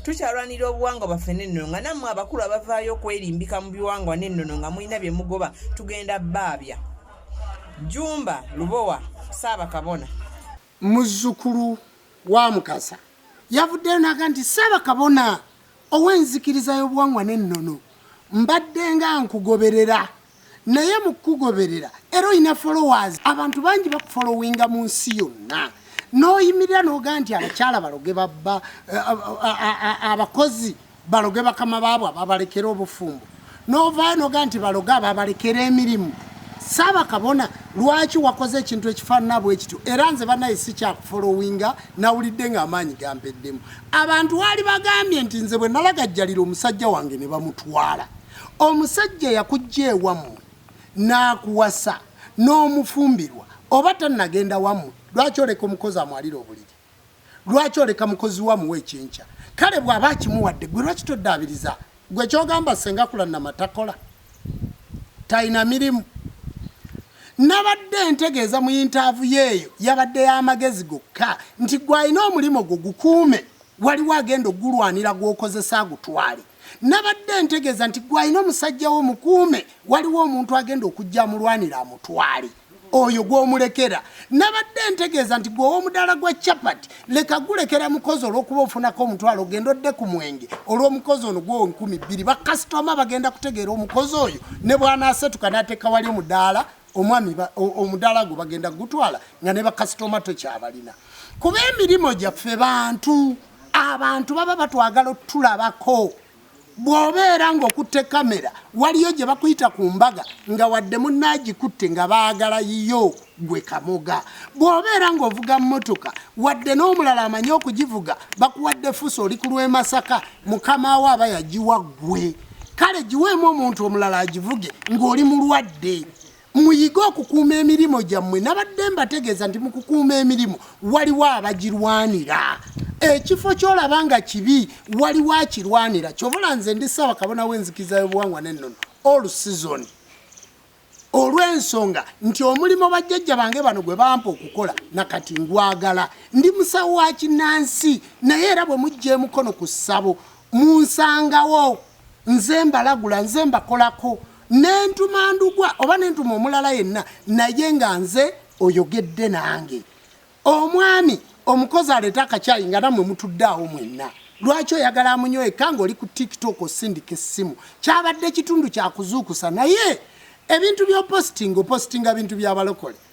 tukyalwanira obuwangwa baffe nennono nga nammwe abakulu abavaayo okwerimbika mu biwangwa nennono nga mulina bye mugoba tugenda baabya jumba lubowa saabakabona muzzukulu wa mukasa yavuddeyo naga nti saabakabona ow'enzikiriza y'obuwangwa nennono mbadde nga nkugoberera naye mukugoberera era olina followers abantu bangi bakufollowinga mu nsi yonna n'oyimirira n'ogaa nti abakyala baloge babba abakozi baloge bakama baabwe ababalekera obufumbo n'ovaayo n'ogaa nti baloge ababalekera emirimu saaba kabona lwaki wakoze ekintu ekifaanana bwe kityo era nze banaye sikyakufolowinga nawulidde ng'amaanyi gampeddemu abantu waali bagambye nti nze bwe nalagajjalira omusajja wange ne bamutwala Omusajja yakujja ewammwe n'akuwasa n'omufumbirwa oba tannagenda wammwe, lwaki oleka omukozi amwalire obuliri? Lwaki oleka mukozi wo amuwa ekyenkya? Kale bw'aba akimuwadde ggwe lwaki toddaabiriza? Ggwe ky'ogamba ssenga Kulannama takola? Talina mirimu? Nabadde ntegeeza mu yintaavuyo eyo yabadde y'amagezi gokka nti gwe alina omulimu gwo gukuume, waliwo agenda okugulwanira gw'okozesa agutwale. nabadde ntegeeza nti gwe alina omusajja wo mukuume waliwo omuntu agenda okujja amulwanira amutwale oyo gwomulekera nabadde ntegeeza nti gwe owomudaala gwa chapat leka gulekera mukozi olwokuba ofunako omutwalo ogenda odde ku mwenge olwomukozi ono gwowo nkumi bbiri bakasitoma bagenda kutegeera omukozi oyo ne bwanasetuka nateeka wali omudaala omwami omudaala gwe bagenda kugutwala nga ne bakasitoma tokyabalina kuba emirimu gyaffe bantu abantu baba batwagala otulabako bw'obeera ng'okutte kamera waliyo gye bakuyita ku mbaga nga wadde munaagikutte nga baagala yiyo gwe kamoga bw'obeera ng'ovuga mmotoka wadde n'omulala amanyi okugivuga bakuwadde fusa oli ku lw'emasaka mukama wo aba yagiwa ggwe kale giweemu omuntu omulala agivuge ng'oli mulwadde Muyige okukuuma emirimu gyammwe. Nabadde mbategeeza nti mu kukuuma emirimu waliwo abagirwanira. Ekifo ky'olaba nga kibi waliwo akirwanira. Kyobola nze ndi ssaawa kabona w'enzikiza y'obuwangwa n'ennono all season olw'ensonga nti omulimu bajjajja bange bano gwe bampa okukola nakati ngwagala ndi musawo wa kinnansi naye era bwe mujja emukono ku ssabo munsangawo. nze mbalagula nze mbakolako nentuma ndugwa oba nentuma omulala yenna naye nga nze oyogedde nange omwami omukozi aleeta akakyayi nga namwe mutudde awo mwenna lwaki oyagala amunyweka ngaoli ku tiktok osindika essimu kyabadde kitundu kyakuzuukusa naye ebintu byopositinga opositinga bintu byabalokole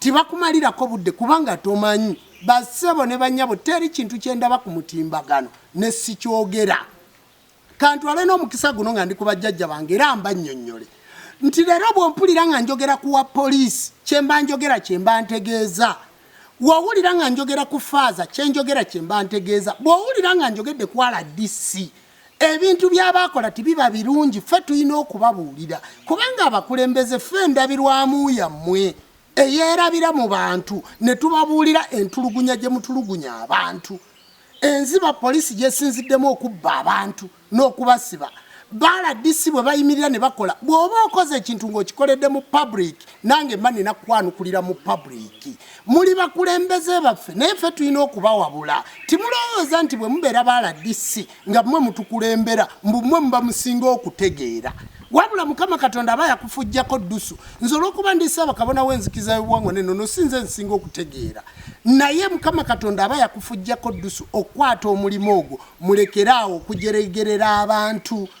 Tibakumalirako budde kubanga tomanyi. Ba ssebo ne bannyabo teri kintu kye ndaba ku mutimbagano ne sikyogera. Kantwale n'omukisa guno nga ndi ku bajjajja bange era mbannyonnyole nti leero bw'ompulira nga njogera ku wa poliisi kye mba njogera kye mba ntegeeza wowulira nga njogera ku faaza kyenjogera kye mba ntegeeza bw'owulira nga njogedde ku rdc ebintu byabaakola tibiba birungi ffe tulina okubabuulira kubanga abakulembeze ffe endabirwamu yammwe eyeerabira mu bantu ne tubabuulira entulugunya gye mutulugunya abantu enziba poliisi gyesinziddemu okubba abantu n'okubasiba baaladisi bwe bayimirira ne bakola bw'oba okoze ekintu ng'okikoledde mu public nange mba nina kukwanukulira mu public muli bakulembeze baffe naye ffe tulina okubawabula timulowooza nti bwe mubeera ba rdc nga mmwe mutukulembera mbu mmwe muba musinga okutegeera wabula mukama katonda aba yakufujjako ddusu nze olwokuba ndi ssaabakabona w'enzikiza y'obuwangwa neno no sinze nsinga okutegeera naye mukama katonda aba yakufujjako ddusu okukwata omulimu ogwo mulekeraawo okujeregerera abantu